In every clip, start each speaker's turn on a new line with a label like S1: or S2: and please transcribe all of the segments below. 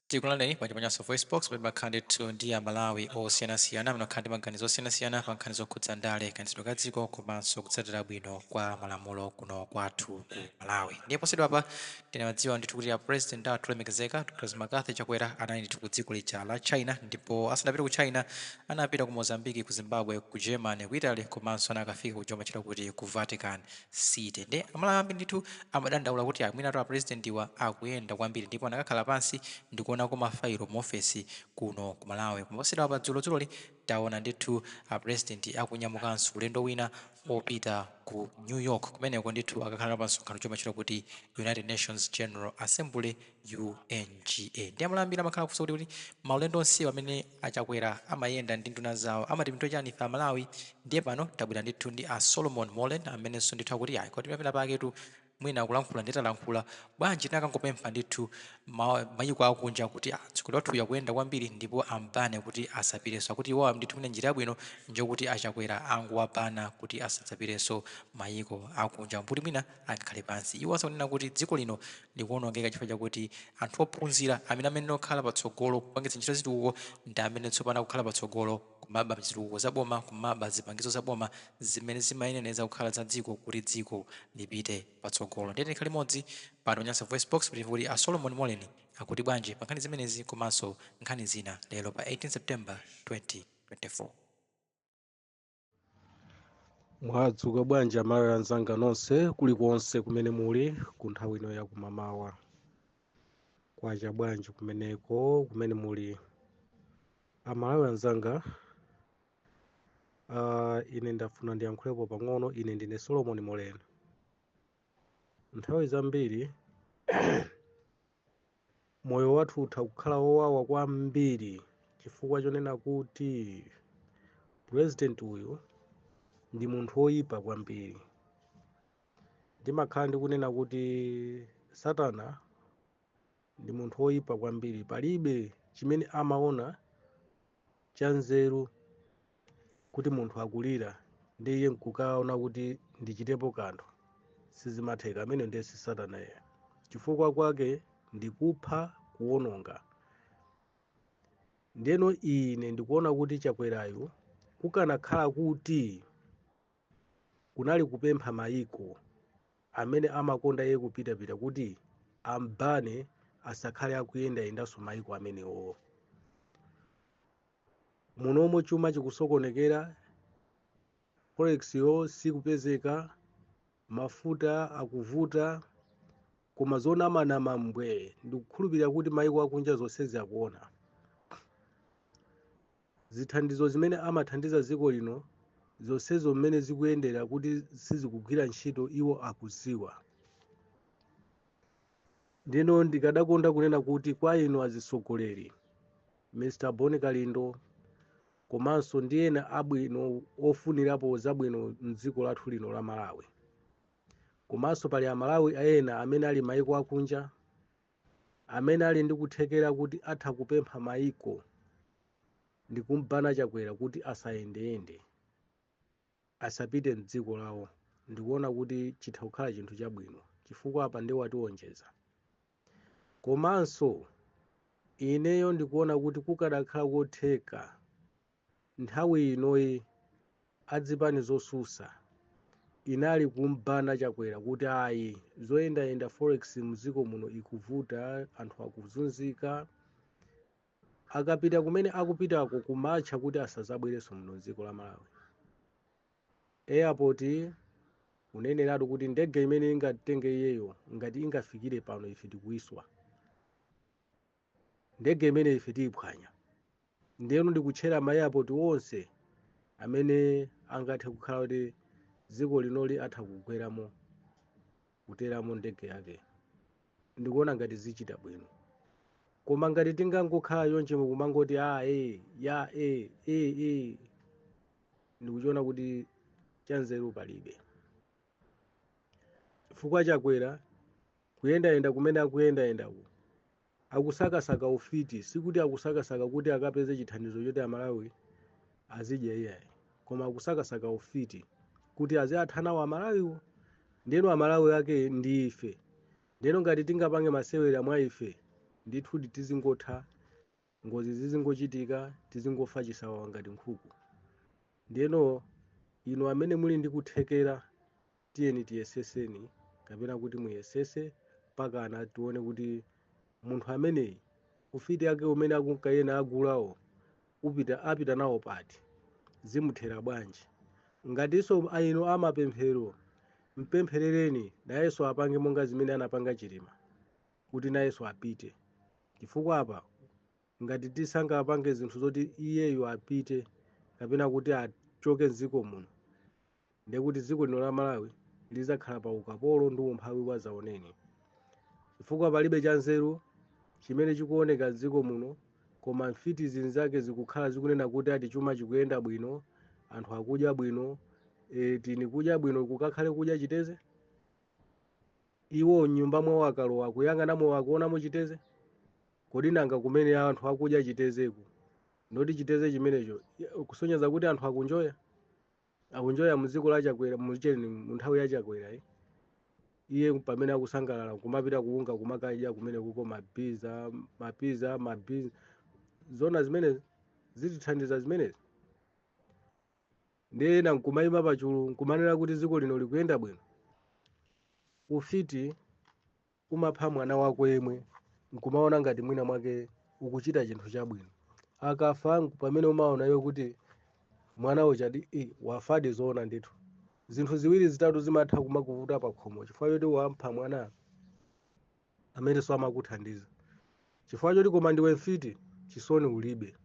S1: Tikulandireni pano pa Nyasa VoiceBox pomwe timakhala ndithu ndi Amalawi osiyanasiyana amene amakhala ndi maganizo osiyanasiyana pa nkhani zokhudza ndale, kayendetsedwe ka dziko komanso kutsatira bwino kwa malamulo kuno kwathu ku Malawi. Ndiye posachedwapa tinadziwa ndithu kuti a President athu olemekezeka Dr. McCarthy Chakwera anali ndithu ku dziko lija la China ndipo asanapite ku China anapita ku Mozambique, ku Zimbabwe, ku Germany, ku Italy komanso anakafika kuja kumatchulidwa kuti ku Vatican. city nde amalawi ambiri ndithu amadandaula kuti ayi mwinatu apresidentiwa akuyenda kwambiri ndipo anakakhala pansi ndikuonako ma failo mu ofesi kuno ku malawi koma posachedwapa dzulo dzuloli taona ndithu apresidenti akunyamukanso ulendo wina opita ku new york kumeneko ndithu akakhala nawo pa msonkhano womwe umatchedwa kuti united nations general assembly UNGA nde Amalawi ambiri amakhala akufunsa kuti kodi maulendo onsewa amene achakwera amayenda ndi nduna zawo amatipindulira chani ife amalawi ndiye pano tabwera ndithu ndi a Solomon Moleni amenenso ndithu akuti ayi komatu pamene pafikatu mwina kulankhula nde talankhula bwanji tinakangopempha ndithu ma, mayiko akunja kuti "Ah, mtsogoleri wathuyu akuyenda kwambiri ndipo ambane kuti asapitenso akuti iwowa ndithu mwina njira yabwino njokuti achakwera angowabana kuti asadzapitenso mayiko akunja mbuti mwina angakhale pansi. Iwo akunena kuti dziko lino likuonongeka chifukwa chakuti anthu ophunzira amene amayenera kukhala patsogolo kupangitsa ntchito zitukuko ndi amene tsopano akukhala patsogolo kumaba zitukuko za boma, kumaba zipangizo za boma zimene zimayenera kukhala za dziko kuti dziko lipite patsogolo. Ndiye tikhale limodzi pano pa Nyasa VoiceBox kuti timve kuti a Solomon Moleni akuti bwanji pa nkhani zimenezi komanso nkhani zina lero pa 18 September 2024.
S2: mwadzuka bwanji amalawi anzanga nonse kulikonse kumene muli ku nthawi ino ya kumamawa kwacha bwanji kumeneko kumene muli amalawi anzanga uh, ine ndafuna ndiyankhulepo pang'ono ine ndine solomon moleni nthawi zambiri moyo wathu utha kukhala wowawa kwambiri chifukwa chonena kuti purezidenti uyu ndi munthu woyipa kwambiri ndimakhala ndikunena kuti satana ndi munthu woyipa kwambiri palibe chimene amaona chanzeru kuti munthu akulira ndi iye nkukaona kuti ndichitepo kanthu sizimatheka ameneyo ndiye si satana iye chifukwa kwake ndi kupha kuwononga ndeno ine ndikuona kuti chakwerayu kukanakhala kuti kunali kupempha mayiko amene amakonda iye kupitapita kuti ambane asakhale akuyendayendanso mayiko amenewo Muno momo chuma chikusokonekera, forex yo sikupezeka, mafuta akuvuta, koma zonamanama mbwee, ndikukhulupirira kuti maiko akunja zonsezi akuona. Zithandizo zimene amathandiza dziko lino zonsezo mmene zikuyendera kuti sizikugwira ntchito iwo akudziwa. ndino ndikadakonda kunena kuti kwa inu azitsogoleri mr bon kalindo komanso ndi ena abwino ofunirapo zabwino mdziko lathu lino la malawi komanso pali amalawi ena amene ali maiko akunja amene ali ndi kuthekera kuti atha kupempha maiko ndi kumubana chakwera kuti asayendeyende asapite mdziko lawo ndikuona kuti chitha kukhala chinthu chabwino chifukwa apa nde wationjeza komanso ineyo ndikuona kuti kukadakhala kotheka nthawi inoyi adzipani zosusa inali kumubana chakwera kuti ayi zoyendayenda forex mdziko muno ikuvuta anthu akuzunzika Akapita kumene akupitako kumatcha kuti asazabwerenso muno mdziko la Malawi. Airport kuneneratu kuti ndege imene ingatenge iyeyo ngati ingafikire pano ife tikuyiswa. Ndege imene ife tiiphwanya. Ndiyeno ndikutchera ma airport onse amene angathe kukhala kuti dziko linoli atha kugweramo. kuteramo ndege yake ndikuona ngati zichita bwino koma ngati tingangokhala chonchi nkumangoti a e ya e e e ndikuchiona kuti chanzeru palibe chifukwa chakwera kuyendayenda kumene akuyendayendaku akusakasaka ufiti sikuti akusakasaka kuti akapeze chithandizo choti amalawi azidya iyayi koma akusakasaka ufiti kuti aziwatha nawo amalawiwo ndeno amalawi ake ndi ife ndeno ngati tingapange masewera mwa ife ndithu tizingotha ngozi zizingochitika tizingofa chisawawa ngati nkhuku ndeno inu amene muli ndi kuthekera tiyeni tiyeseseni kapena kuti muyesese mpakana tione kuti munthu ameneyi ufiti ake umene akunka nayenda agulawo apita nawo pati zimuthera bwanji ngatinso a inu amapemphero mpempherereni nayenso apange monga zimene anapanga chilima kuti nayenso apite chifukwa apa ngati tisangapange zinthu zoti iyeyo apite kapena kuti achoke mdziko muno ndiye kuti dziko lino la malawi lidzakhala pa ukapolo ndi umphawi wadzaoneni chifukwa palibe chanzeru chimene chikuoneka dziko muno koma mfiti zinzake zikukhala zikunena kuti eti chuma chikuyenda bwino anthu akudya bwino e, tini kudya bwino kukakhale kudya chiteze iwo mnyumba mwawo akalowa akuyang'anamo akuonamo chiteze kodi nanga kumene anthu akudya chitezeku ndoti chiteze chimenecho kusonyeza kuti anthu akunjoya akunjoya mu dziko la chakwera mu cheni mu nthawi ya chakwera eh. iye pamene akusangalala kumapita kuunga kumakadya kumene kuko mapiza mapiza mapiza zona zimene zitithandiza zimenezi ndiye ena nkumayima pachulu nkumanena kuti dziko lino likuyenda bwino ufiti Umapha mwana wako yemwe n'kumaona ngati mwina mwake ukuchita chinthu chabwino. Akafa pamene umaona iwe kuti mwana ujadi wafadi zoona ndithu. Zinthu ziwiri zitatu zimatha kumakuvuta pa khomo chifukwa choti wapha mwana amenenso amakuthandiza. Chifukwa choti koma ndiwe mfiti, chisoni ulibe.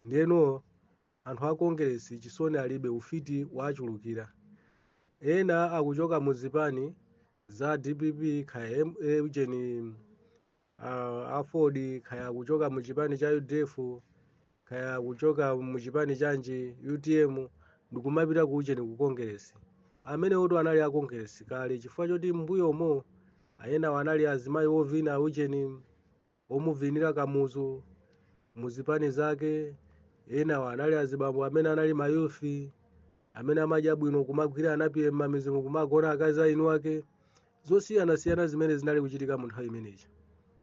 S2: Ndiyeno Anthu a Kongeresi chisoni alibe, ufiti waachulukira. Ena akuchoka mu zipani za dpp kaya ujeni ah, aford kaya akuchoka mu chipani cha udf kaya akuchoka mu chipani chanji utm ndikumapita ku ujeni ku kongeresi amene woti anali a kongeresi kale chifukwa choti mbuyomo enawa anali azimayi ovina ujeni omuvinira kamuzu muzipani zake enawa anali azibambo amene anali mayufi amene amadya bwino kumagwira anapiye mmamidzimu kumagona akazi aeni ake zosiyanasiyana zimene zinali kuchitika mu nthawi imeneyi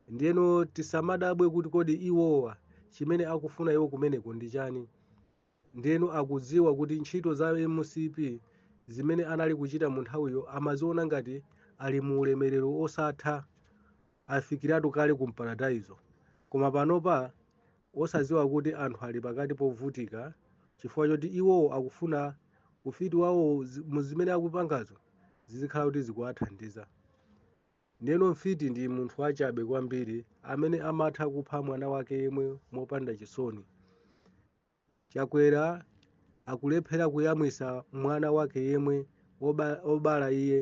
S2: ndiyeno tisamadabwe kuti kodi iwowa chimene akufuna iwo kumeneko ndi chani Ndiyeno akudziwa kuti ntchito za mcp zimene anali kuchita munthawiyo amaziona ngati ali mu ulemerero osatha afikiratu kale ku mparadaizo. Koma panopa osadziwa kuti anthu ali pakati povutika chifukwa choti iwowo akufuna ufiti wawo zi- mu zimene akupangazo zizikhala kuti zikuwathandiza. Ndiyeno mfiti ndi munthu wachabe kwambiri amene amatha kupha mwana wake yemwe mopanda chisoni. Chakwera akulephera kuyamwisa mwana wake yemwe oba, obala iye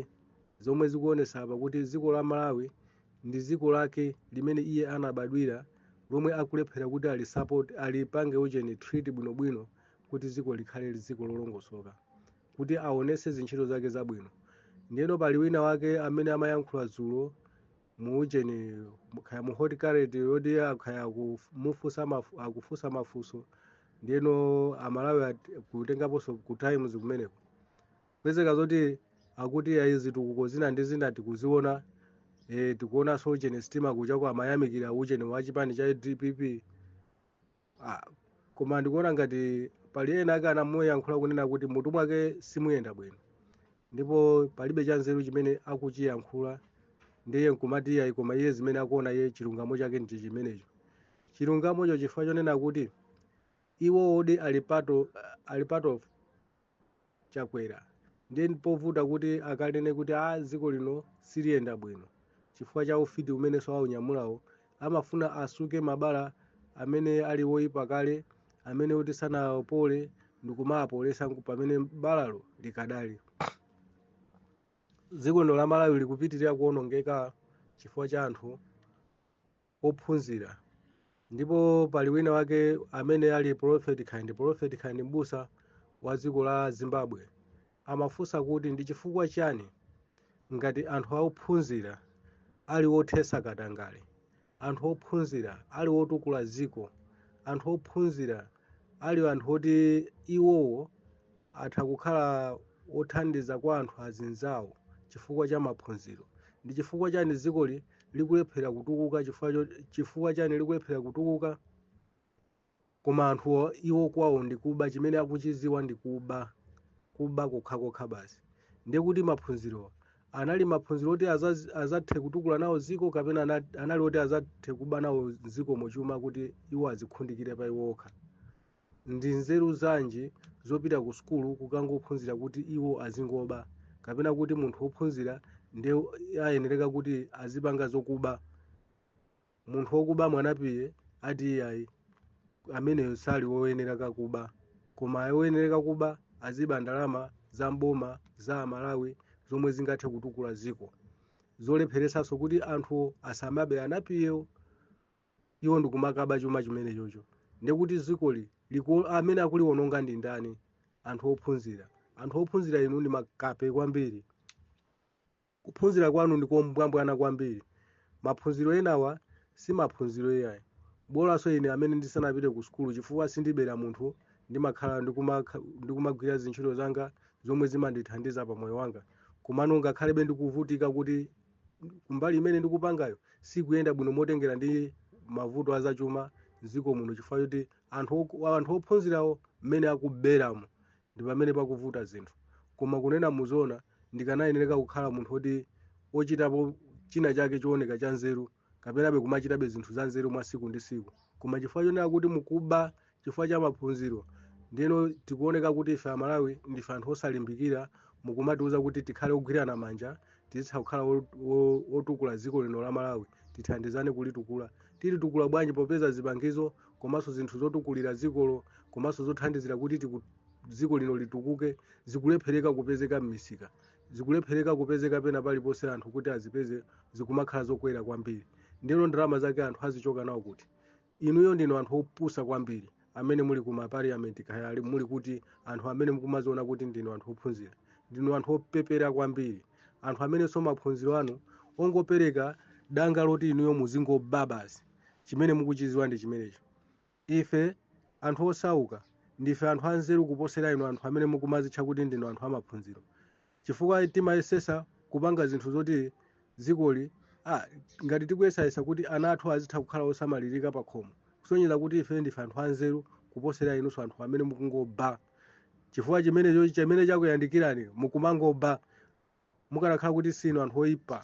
S2: zomwe zikuonesa apa kuti dziko la Malawi ndi dziko lake limene iye anabadwira lomwe akulephera kuti alipange ujeni treat bwinobwino kuti dziko likhale dziko lolongosoka kuti aonese zintchito zake zabwino ndiyeno pali wina wake amene amayankhula dzulo muujeni kaya mu hot current yoti khaya akumufunsa mafu- akufunsa mafunso ndiyeno amalawi ati- kutengaponso ku times kumeneko pezeka zoti akuti ayi zitukuko zina ndi zina tikuziona eh, tikuonanso ujeni sitima kutchako amayamikira ujeni wa chipani cha dpp Ah, koma ndikuona ngati pali ena ake anamuyankhula kunena kuti mutu mwake simuyenda bwino ndipo palibe chanzeru chimene akuchiyankhula ndiye nkumati iyayi koma iye zimene akuona iye chilungamo chake ndi chimenecho chilungamocho chifukwa chonena kuti iwo oti ali part of, ali part of chakwera ndiye ndi povuta kuti akanene kuti a dziko lino siliyenda bwino chifukwa cha ufiti umenenso aunyamulawo amafuna asuke mabala amene ali woipa kale amene kuti sanapole ndikumaapolesa nku- pamene balalo likadali dziko lino la malawi likupitirira kuonongeka chifukwa cha anthu ophunzira ndipo pali wina wake amene ali prophet kaya ndi prophet kaya ndi mbusa wa dziko la zimbabwe amafunsa kuti ndi chifukwa chani ngati anthu ophunzira ali othesa katangale anthu ophunzira ali otukula dziko anthu ophunzira ali anthu oti iwowo atha kukhala othandiza kwa anthu azinzawo chifukwa cha maphunziro ndi chifukwa chani dzikoli likulephera kutukuka chifukwa cho- chifukwa chani likulephera kutukuka koma anthuwo iwo kwawo ndi kuba chimene akuchiziwa ndi kuba kuba kokhakokha basi ndiye kuti maphunzirowa anali maphunziro oti aza- azathe kutukula nawo dziko kapena ana- anali oti azathe kuba nawo dziko mochuma kuti iwo azikundikire pa iwo okha ndi nzeru zanji zopita ku sukulu kukangophunzira kuti iwo azingoba kapena kuti munthu wophunzira nde ayenereka kuti azipanga zokuba munthu wokuba mwanapiye ati iyayi ameneyo sali woyenereka kuba koma woyenereka kuba aziba ndalama za mboma za amalawi zomwe zingathe kutukula dziko zolepheresanso kuti anthu asamabe anapiyewo iwo ndikumakaba chuma chimenechocho ndiye kuti dzikoli liku- amene akuliwononga ndi ndani anthu ophunzira anthu ophunzira inu ndi makape kwambiri Kuphunzira kwanu ndi kombwambwana kwambiri. Maphunziro enawa si maphunziro iyayi. Bolanso ine amene ndisanapite ku sukulu chifukwa sindibera munthu ndimakhala ndikumagwira zintchito zanga zomwe zimandithandiza pa moyo wanga komano ngakhalebe ndikuvutika kuti kumbali imene ndikupangayo sikuyenda bwino motengera ndi mavuto a zachuma m'dziko muno chifukwa choti anthu ok- anthu ophunzirawo mmene akuberamo ndi pamene pakuvuta zinthu koma kunena zoona ndikanayenereka kukhala munthu woti ochitapo china chake chooneka cha nzeru kapenabe kumachitabe zinthu za nzeru mwa siku ndi siku koma chifukwa chonena kuti mukuba chifukwa cha maphunziro ndiyeno tikuoneka kuti ife amalawi ndife anthu osalimbikira mukumatiuza kuti tikhale ogwirana manja tizitha kukhala wo- wo- wotukula dziko lino la malawi tithandizane kulitukula tilitukula bwanji popeza zipangizo komanso zinthu zotukulira dzikolo komanso zothandizira kuti tiku- dziko lino litukuke zikulephereka kupezeka m'misika zikulephereka kupezeka pena paliponse anthu kuti azipeze zikumakhala zokwera kwambiri ndiyeno ndalama zake anthu azichoka nawo kuti inuyo ndinu anthu opusa kwambiri amene muli ku maparliament kaya ali- muli kuti anthu amene mukumaziona kuti ndinu anthu ophunzira ndinu anthu opepera kwambiri anthu amenenso maphunziro anu ongopereka danga loti inuyo muzingoba basi chimene mukuchiziwa ndi chimenecho ife anthu osauka ndife anthu anzeru kuposera inu anthu amene mukumazitcha kuti ndinu anthu amaphunziro chifukwa timayesesa kupanga zinthu zoti dzikoli ah, ngati tikuyesayesa kuti ana athu azitha kukhala osamalirika pa khomo kusonyeza kuti ife ndife anthu anzeru kuposera inunso anthu amene mukungoba chifukwa chimenecho chimene chakuyandikirani mukumangoba mukanakhala kuti sinu anthu oyipa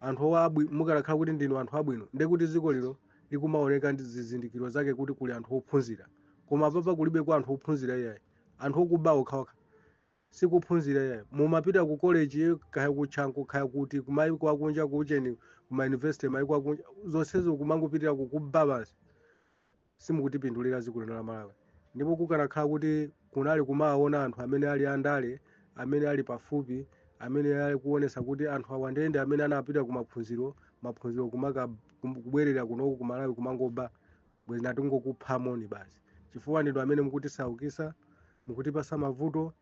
S2: anthu owabwi mukanakhala kuti ndinu anthu abwino ndiye kuti dziko lino likumaoneka ndi zizindikiro zake kuti kuli anthu ophunzira koma apapa kulibe kwa anthu ophunzira iyayi anthu okuba okhaokha sikuphunzira iyayi mumapita ku college kaya ku Chanco kaya kuti kumayiko akunja ku ujeni kuma university mayiko akunja zonsezo kumangopitira kukuba basi simukutipindulira dziko lino la malawi ndipo kukanakhala kuti kunali kumaona anthu amene ali andale amene ali pafupi amene ali kuonesa kuti anthu awa ndiye ndi amene anapita ku maphunziro maphunziro kumaka kum- kubwerera kunoku ku malawi kumangoba bwezi titangokuphani basi chifukwa ndinu amene mukutisaukisa mukutipasa mavuto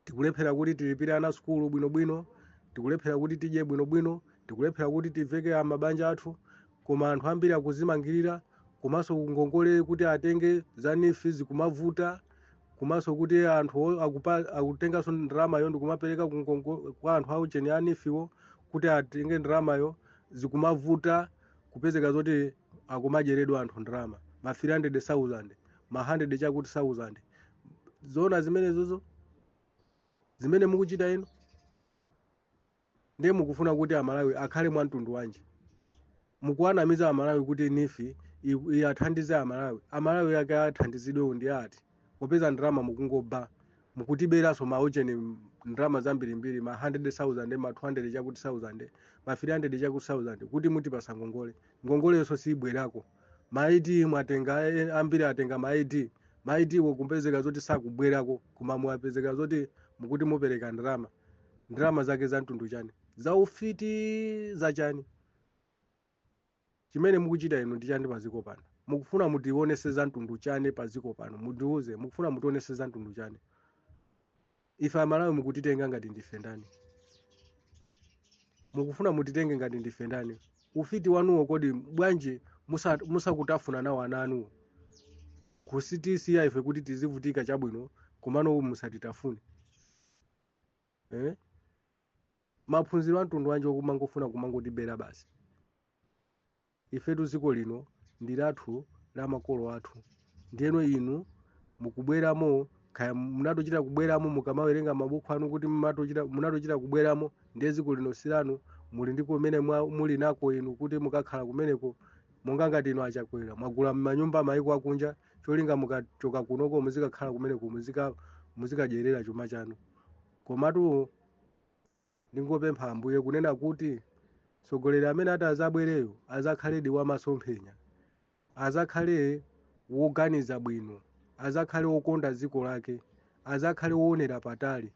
S2: tikulephera kuti tilipire ana sukulu bwinobwino tikulephera kuti tidye bwinobwino tikulephera kuti tiveke a mabanja athu koma anthu ambiri akuzimangirira komanso ngongole kuti atenge za NEEF zikumavuta komanso kuti anthu o- akupa- akutenganso ndalamayo ndikumapereka ku ngongo- kwa anthu aujeni a NEEF-wo kuti atenge ndalamayo zikumavuta kupezeka zoti akumadyeledwa anthu ndalama ma 300000 ma 100 chakuti 1000 zoona zimenezozo zimene mukuchita inu ndiye mukufuna kuti amalawi akhale mwa mtundu wanji mukuwanamiza amalawi kuti NEEF i- iwathandize amalawi amalawi ake athandizidwewo ndi ati popeza ndalama mukungoba mukutiberanso maujeni ndalama zambirimbiri ma 100,000 ma 200 chakuti 1000 ma 300 chakuti 1000 kuti mutipasa ngongole ngongoleyonso siyibwerako ma id mwatenga eh, ambiri atenga ma id ma id wo kupezeka zoti sakubwerako koma mwapezeka zoti mukuti mupereka ndalama ndalama zake za mtundu chani za ufiti za chani chimene mukuchita inu ndi chani paziko pano mukufuna mutionese za mtundu chani paziko pano mutiuze mukufuna mutionese za mtundu chani Ife Amalawi mukutitenga ngati ndife ndani? Mukufuna mutitenge ngati ndife ndani? Ufiti wanuwo kodi bwanji musa- musakutafuna nawo ana anuwo? Kutisiya ife kuti tizivutika chabwino komano uwu musatitafune. Eh? Maphunziro a mtundu wanji okumangofuna kumangotibera basi? Ifetu dziko lino ndi lathu la makolo athu ndiyeno inu mukubweramo kaya munatochita kubweramo mukamawerenga mabuku anu kuti mumatochita munatochita kubweramo ndiye dziko lino silanu muli ndi kumene mwa- muli nako inu kuti mukakhala kumeneko monga ngati inu a Chakwera mwagula manyumba maiko akunja cholinga mukachoka kunoko muzikakhala kumeneko muzika muzikadyerera chuma chanu komatu Ndingopempha Ambuye kunena kuti mtsogoleri amene atazabwereyo azakhaledi wa masomphenya, azakhale woganiza bwino, azakhale wokonda dziko lake, azakhale woonera patali,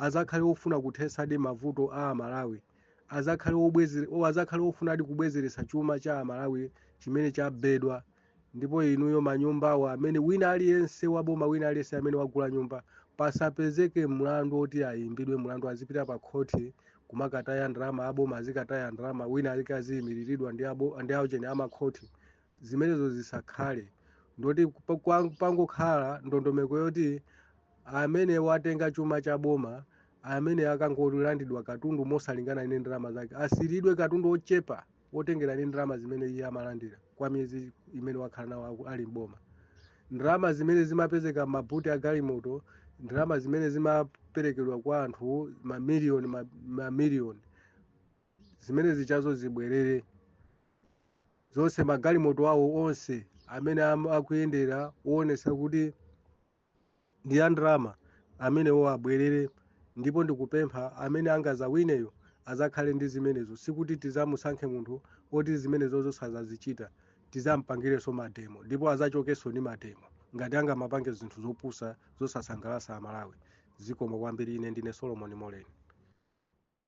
S2: azakhale wofuna kuthetsadi mavuto a Amalawi, azakhale wobweze, o, azakhale wofunadi kubwezeretsa chuma cha Amalawi chimene chabedwa. ndipo inuyo manyumbawo amene wina aliyense waboma wina aliyense amene wagula nyumba pasapezeke mlandu woti ayimbidwe mlandu azipita pa khoti kumakataya ndalama aboma azikataya ndalama wina alike aziyimiriridwa ndi abo- ndi aucheni amakhoti zimenezo zisakhale ndoti pa- kwa- pangokhala ndondomeko yoti amene watenga chuma cha boma amene akangolandidwa katundu mosalingana ndi ndalama zake asiyiridwe katundu ochepa otengera ndi ndalama zimene iye amalandira kwa miyezi imene wakhala nawo aku- ali m'boma ndalama zimene zimapezeka m'mabuti a galimoto ndalama zimene zimaperekedwa kwa anthu mamiliyoni ma- mamiliyoni zimene zichazo zibwerere zonse magalimoto awo onse amene am- akuyendera woonesa kuti ndi a ndalama amenewo abwerere ndipo ndikupempha amene angazawineyo azakhale ndi zimenezo sikuti tizamusankhe munthu oti zimenezozo sazazichita tizampangirenso mademo ndipo azachokenso ndi mademo ngati angamapange zinthu zopusa zosasangalasa amalawi zikomo kwambiri ine ndine solomon moleni